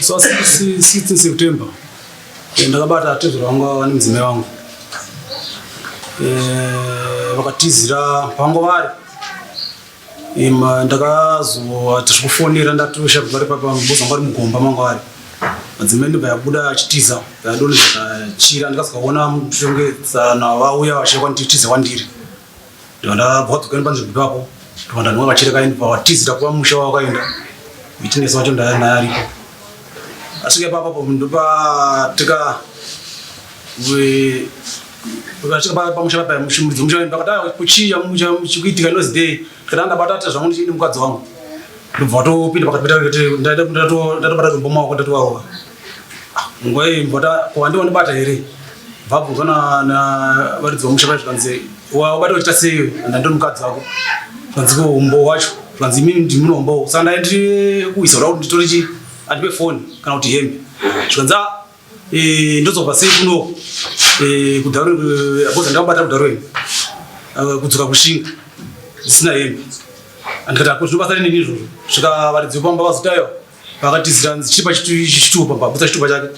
so 16 september eh, ndakabata tezvero vangu vava nemudzimai wangu eh, vakatizira pango vari Ima ndakazowa tikufonera ndatosha kubva papa mboza ngwari mugomba mangwari madzimai ndobva yabuda achitiza yadoni zvakachira ndikasikaona mushongedzana vauya vachia kwanditiza kwandiri ndobva ndabva dzokani panzvimbo ipapo ndobva ndanwa vachira kaini pa watizira kuva musha wawakaenda mitinesi wacho ndaya naye aripo asvika ipapapo ndopa tika Vakasvika pa- pamusha papa mushumudzi musha wenu pakati ah, kuchii chamu- chamu- chikuitika inozi dei kana ndabata ati zvangu ndichini mukadzi wangu ndobva vatopinda pakati peta kuti ndaida- ndato- ndatobata zombo maoko ndatovarova nguva iyi mbota kuwandi wandibata here vabvunzwa na- na varidzi vamusha vai zvikanzi wabata wachita sei ndandi mukadzi wako zvanzi ko umbo wacho zvanzi imini ndimune umbowo saka ndai ndiri kuisa kuda kuti nditore chii andipe foni kana kuti hembe zvikanzi "Ah, Eh, ndozobva sei kuno eh, kudaro eh, apoza ndakabata kudaro imi eh, kudzoka kushinga zisina hembe andikati apo zvinobasa rini nini izvozvo svika varidzi vepamba vazotayo vakatizira nzi chipa chitupa pamba butsa chitupa chake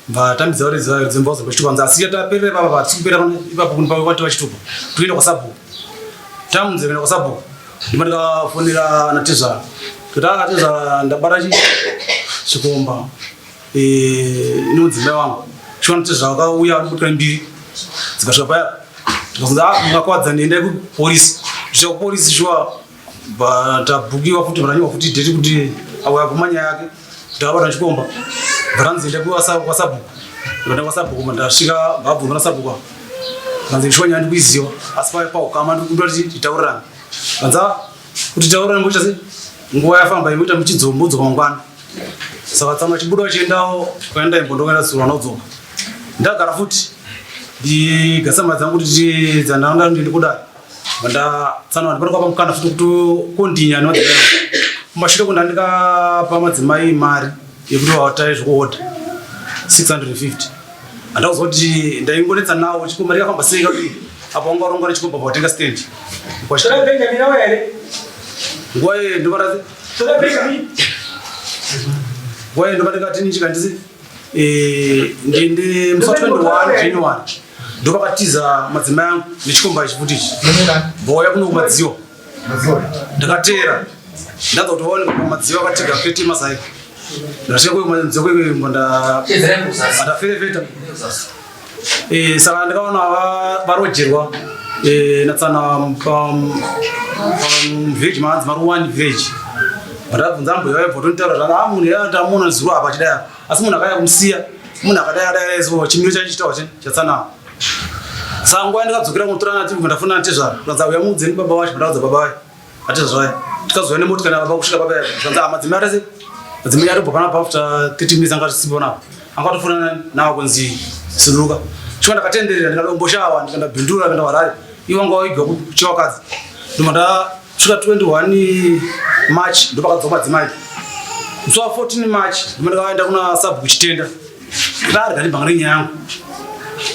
mbatambidza varidzi varidzi mba vazopa chitupa nzi asi yataperera ipapa vatisi kupera ipapo kuni pavo vativa chitupa toenda kwasabhuku tamunzi kuenda kwasabhuku ndima ndikafonera natezvara kuti akatezvara ndabata chi chikomba Eh, inodzimba wangu chiwana chezvakauya vanobutwa mbiri dzikasvika paya ndikakunza ah, mungakwadza ndiendai kupolisi zvisvika kupolisi shuwa tabukiwa futi vananyiwa futi deti kuti auya kumanya yake ndavabata chikomba varanzi enda kwasabhuku ndikanda kwasabhuku ndasvika mbabvu ndana sabhuku vanzi ndishuwa nyaya ndikuiziva asi paya paukama ndikuda kuti titaurirane vanza ah, Kuti taura ngoita sei? Nguva yafamba imoita muchidzombodzwa mangwana. Saka tsano achibuda achiendawo kwaenda imbo ndokaenda tsuro anodzoka. Ndagara futi ndigasama dzangu kuti dzandanga ndiri kudai. Manda tsano ndipano kwapa mukana futi kuti kondinya nodai. Kumashure kundandika pamadzimai mari. yekuti vawataye zvekuhodha 650 andauza kuti ndaingonetsa nawo chikomba rikafamba sei kaii apo wanga waronga nechikomba pawatenga stand nguva iyoyo ndovarati nguva iyoyo ndovati kati ni chikandisi eh, ndiende musi wa 21 january ndopakatiza madzimai angu nechikomba ichi futi ichi vauya kunokumadziwa ndakateera ndaza kuti vaone madziva akatega fete masai ndashekwekumadzokwekuimbo ndaferefeta eh, saka ndakaona varojerwa eh, natsana pamvillage maanzi mari one village vandabvunza ambuya vaibva tonitaura zvana a ah, munhu yaatamuona zuro apa chidai asi munhu akaya kumusiya munhu akadai adai chimiro chacho chitaura chatsana Sangu aenda kadzokera kunotora nati mva ndafuna na tezvara. Zvanzi auya mudze ni baba wacho ndaudza baba wacho. Ati zvaya. Tikazouya ne motika na baba kusvika baba yacho. Zvanzi hama dzimwe arese. Dzimwe yari bopana pa after 30 minutes anga sisipo na. Anga tofuna na kunzi siluka. Chikwa ndakatenderera ndikadomboshawa ndikanda bindura kana warari. Iwo anga waigwa kuchiwa kadzi. Nduma nda svika 21 March ndopakadzoma dzimai. Musi wa 14 March nduma ndakaenda kuna sabu kuchitenda. Vari kati banga renyaya yangu.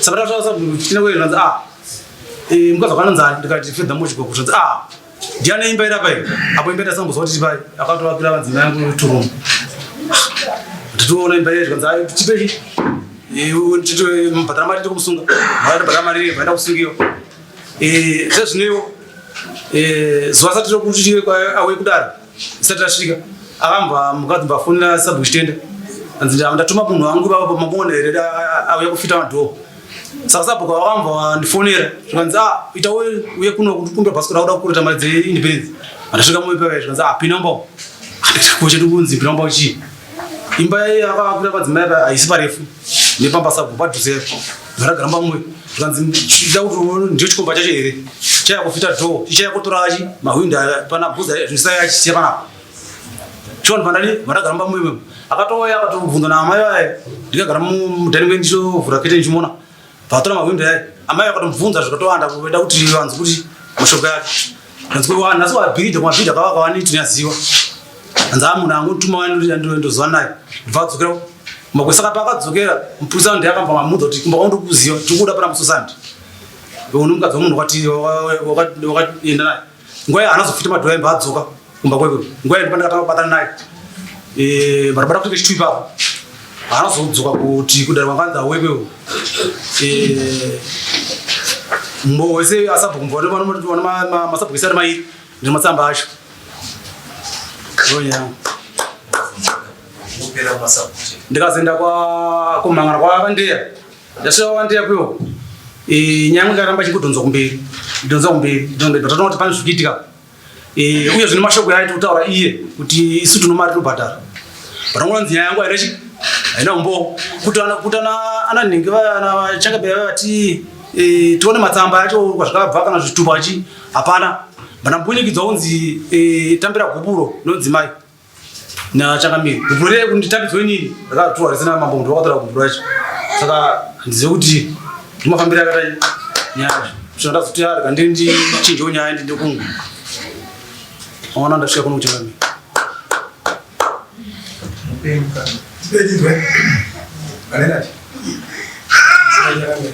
Saka tataura sabhuku chine kwei zvanzi ah. Eh mukadzi wakananzi ah ndikati fedha mochi gogo zvanzi ah. Ndiani imba ira pai? Apo imba ira sambozwa kuti pai. Akatoa kira vanzi imba yangu two room. Titoona imba ira zvanzi ah tipe chi. Eh tito mbadhara mari tikumusunga. Mari mbadhara mari vaenda kusungiwa. Eh sezvinewo. Eh zuva sati rokuti tiwe kwa awe kudara. Isati asvika akambwa mukadzi mbafonera sabu chitenda hanzi ndatuma munhu wangu vava pamabona here auya kufita madhoo saka sabu kwavakambwa vandifonera zvikanzi a ah, ita uye kuno kukumbira basi kuda kuda kukureta mari dzeindependence andasvika mumwe pavai zvikanzi a ah, pina mbao anditakuchati kunzi pina mbao chii imba yakakuda padzimai haisi parefu nepamba sabhu padhuze varagamba mwe zvikanzi ida kuti ndicho chikomba chacho here chaya kufita dho chichaya kutora achi mahwindo pana bhuza zvisayo achisiya panapa chon pandani varagamba mwe mwe akatouya akatovhunza naamai vaye ndikagara mudhani mwe ndichovhura kete ndichimona Patora mahwindo yaye amai vakatomubvunza zvikatowanda kuenda kuti vanzi kuti mashoko yake anzi kuti wanhu asi wabhidha kumabhidha kavakawaniti nyaziwa anzi amunhu angu tuma wandozowa naye ndibva adzokera makwesaka paakadzokera mupurisa ndo yakamba mamudza kuti kumba kwandokuziva tikuda pana musosandi unomukadzi wamunhu wakatienda naye Ngoya anazofita madhora imba adzoka kumba kwekwe. Ngoya ndipo ndakatanga kubatana naye. Eh, barabara kuti chitu ipapo. Anazodzoka kuti kudara kwanganza wekwe. Eh, mbo wese asabhukumva ndo vano vano ma masabhukisa ari mairi ndi matsamba acho. Ngoya. Ndikazoenda kwa kumangana kwa Kandeya. Ndasvika wandira kwiwo. Eh nyangwe karamba chikudhonza kumberi. Dhonza kumberi. Dhonza kumberi. Tatoona kuti pane zvikuitika. Eh uye zvine mashoko yaiti kutaura iye kuti isu tino mari tinobhadhara. Patangoona nziya yangu aina chi aina umbo kutana kutana ana nhingi vana changa bya vati eh tione matsamba acho kwazvakabva kana zvitupa chi hapana. Bana mbunyikidzwa unzi eh tambira guburo nonzi mai. Na chakamira. Kupure kunditapidzwe nini? Ndakatuwa risina mambo ndo wakatara kupura chi. Saka ndizive kuti ndimafambira akadai. Nyaya. Tinoda kuti ari kandi ndi chinjo nyaya ndi ndokungu. Ona ndasvika kuno kuchanga mimi. Mpemka. Sipedizwe. Kanenati. Sipedizwe.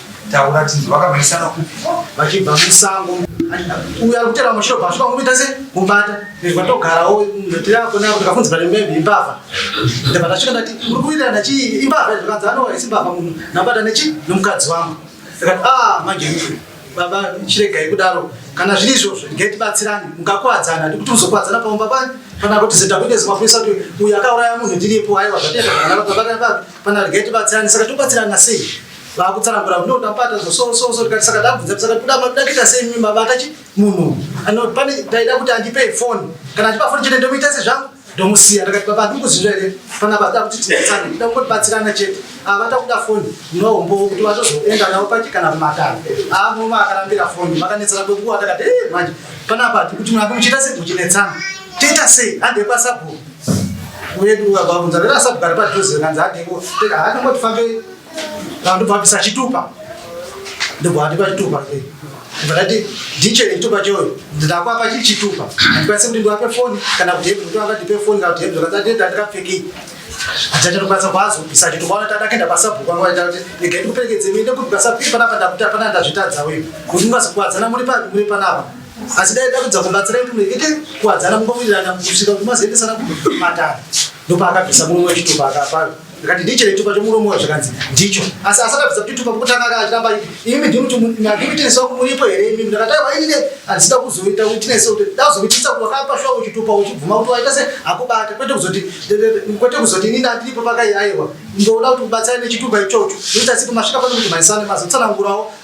Taura tinzwe vakamhanyisana kupi vachibva musango uyo ari kutera mushure pasvika kumuita se mubata izwa togarawo ndotirako nako ndikafunzira nembebi imbavha ndibva ndasvika ndati uri kuitira ndachi imbavha zvikanzi anowa isi mbavha munhu ndabata nechi nomukadzi wangu ndikati a ah, manje baba chiregai kudaro kana zviri izvozvo ndigai tibatsirani mukakuwadzana ndikuti muzokuwadzana pamumba panyi kana kuti zeta kuite zimapurisa kuti uyu akauraya munhu ndiripo aiwa zvatenda kana baba kana baba Pana rega tibatsirane saka tobatsirana sei? Vakutsanangura kuti ndapata so so so tikati saka tabvunza kuti saka kuda makuda kuita sei mimi baba akachi munhu ano pane taida kuti andipe phone kana achipa phone chete ndomuita sezvangu ndomusiya ndakati baba handikuziva here pana baba kuti tinotsana kuda kungotibatsirana chete ava ah, takuda foni nohombo kuti vazozoenda navo pachi kana kumatano aa ah, muma akarambira foni vakanetsana kwekuwa takati eh, manje panapa kuti muna kumuchiita sei muchinetsana tiita sei andepasabhuku Uye duka kwa kunza rera sabu karipa tuzi kanza hati ngo teka hati ngo tufambe kandu pa pisa chitupa ndipo hati pa chitupa ke ndati diche chitupa choyo ndakwa pa chitupa ndipo sisi ndindo ape phone kana kuti hebu ndo akati pe phone ngati hebu kanza tenda ndikapfeki achacha ndokwanisa kwazo pisa chitupa ona tada kenda pa sabu kwa ngo tati ndike ndikupekedze minde kuti pa sabu pana panda kuti pana ndazvitadza wewe kuti ngazikwadza na muri pa muri panapa asi dai takudza kubatsira kuti murekete kuwadzana kumba kuirana kusvika kuti mazoendesana kumatara ndopaakabvisa murume wechitupa akaparo ndikati ndicho chitupa chomurume wa zvikanzi ndicho asi asakabvisa kuti tupa kutanga aka achiramba imi ndimutineso kumuripo here imi ndakataiwa inine handisida kuzoita witineso kuti ndazokuitisa kuti wakapashuwa uchitupa uchibvuma kuti waita se akubata kwete kuzoti kwete kuzoti inini andiripo pakaiaiwa ndoda kuti ubatsira nechitupa ichocho ndoita sipo masvika pano kuti maisane mazotsanangurawo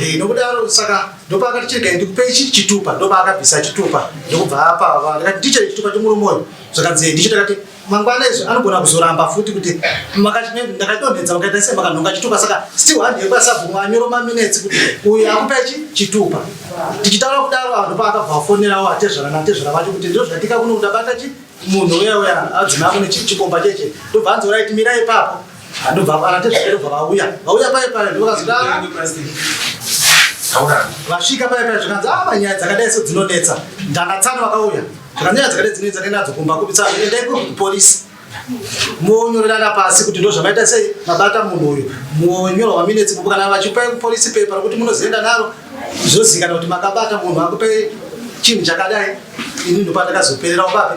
Eh, nokudaro saka ndopakati chirega ndikupei chii chitupa ndopaakabvisa chitupa ndokubva apava ndikati ndichei chitupa chomurumoyo zvakanzi ndicho takati mangwana izvo anogona kuzoramba futi kuti ndakadonhedza makaita sei makanhonga chitupa saka still handi yekuti asabvumwa anyoro maminetsi kuti uyu akupa chi chitupa tichitaura kudaro vanhu paakabva vafonerawo atezvara natezvara vacho kuti ndiro zvatika kuno kuti abata chi munhu uya uya adzimai kune chikomba cheche ndobva anzi urai timira ipapo Andobva vana tezvakero bva vauya. Vauya paye paye ndokazvida. Vasvika paye paye zvikanzi ah manyaya dzakadai so dzinonetsa. Ndana tsano vakauya. Zvakanyaya dzakadai dzinonetsa nenda dzokumba kupitsa nenda ipo police. Monyorerana pasi kuti ndozvamaita sei mabata munhu uyu. Monyorwa maminetsi kubuka na vachipa police paper kuti munozoenda naro. Zvozikana kuti makabata munhu akupe chinhu chakadai. Ini ndopandakazoperera ubabe.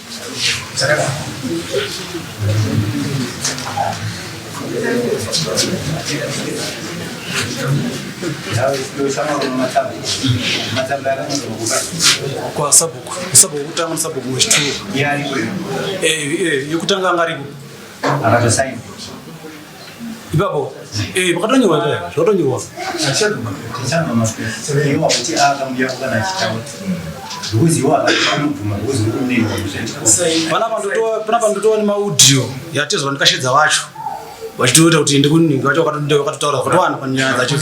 kwa sabhuku sabhuku kutanga sabhuku wechituru yekutanga angaripo akatosaina ipapo eh, pakatonyorwa ipapo zvakatonyorwa panapa ndotowa nemaudio yatezwa ndikashedza vacho vachitoita kuti ende kuningi vacho vakatotaura vakatowana panyaya dzacho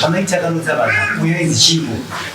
pamaita kanotsa vanhu uyo inzi chimbo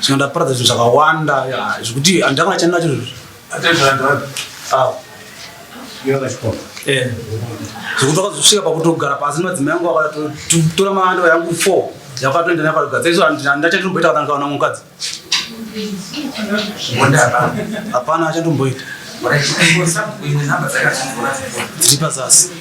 Saka ndaparadza zvinhu zvakawanda zvekuti handanga ndachana nacho izvozvo. Ah. Eh. Zvekuti wakazosvika pakutogara pasi nemadzimai yangu akatotora maandava yangu four yakatoenda nayo parugadza izvo handachatomboita kana ndikaona mukadzi. Hapana achatomboita. Dziri pazasi.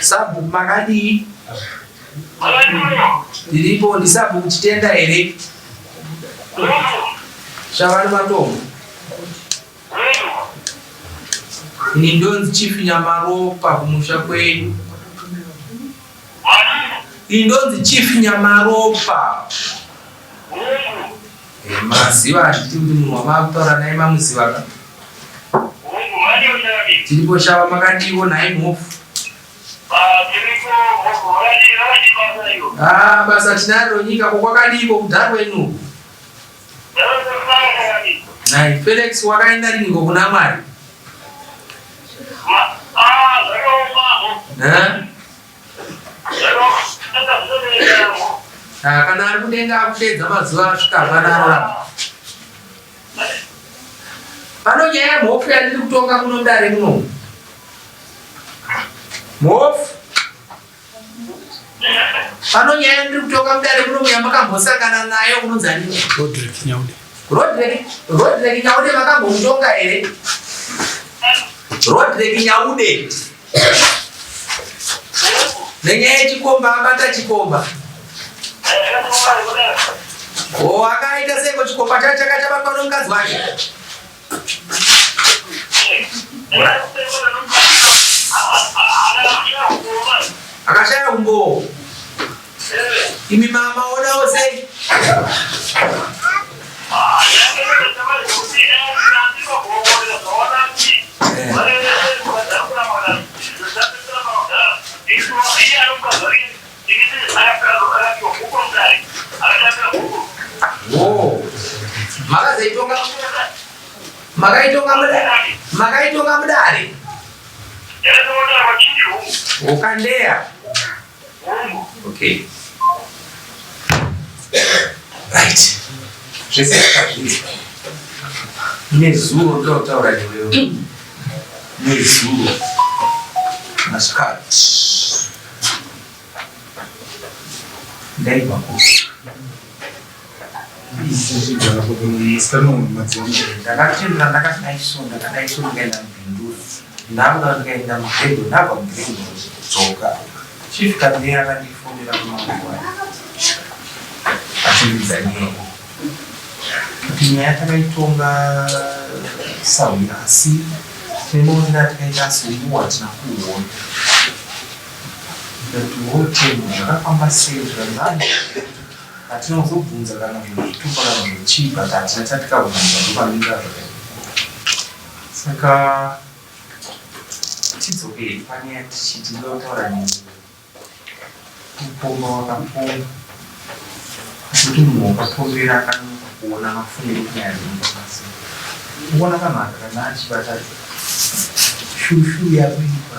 Sabu makadii? Ndiripo ndisabu kuchitenda here? Shavani matombo. Ini ndonzi Chief Nyamaropa kumusha kwedu. Ini ndonzi Chief Nyamaropa. Maziva hazviti kuti munhu wamavutaura naye mamuziva ka. Tiripo shava makadiwo nhai mhofu. Ah, basa tinaro nyika ko kwakadiiko kudarwe ino. Nhai Felix wakaenda riniko kuna Mwari? Eh? Ah, kana ari kudenga akudeedza mazuva asvika hapana ararama pano nyaya yamhofu yandiri kutonga muno mudare muno mhofu pano nyaya yandiri kutonga mudare muno muya makambosangana nayo unonzi anini rodrik nyaude rodrik nyaude makambomutonga here rodrik nyaude nenyaya yechikomba abata chikomba o akaita seko chikomba chacho chaka chabatwa nomukadzi wake akashaya umbowo Imi mama odawo sei? Makaitonga makaitonga mudari makaitonga mudari ukandeya Okay. Right. Zvese zvakazvinzwa. Nezuro ndotaura newewe. Nezuro. Masikati. Ndaibva kupi? Ndakatendera ndakati dai so ndakadai so ndikaenda mubhinduri ndauda ndikaenda mubhendo ndabva mubhendo dzoka chief kadheya akandifonera kumanguva achindidza nyaya kuti nyaya takaitonga sahwira asi tinoonera tikaita asiuwa tina kuona ndati wotemu zvakafamba sei zvanzani Hatina kuzobvunza kana zvinhu zvitupa kana zvinhu chii but hatina chatikabvunza ndopanomira zvakadii saka tidzokei pane yatichi tinoda kutaura neni kupomba wakapomba kuti munhu wakapombera akanonoka kuona mafungiro kunyaya dzemukakasi kuona kanhu aka kana achibata shushu yakuipa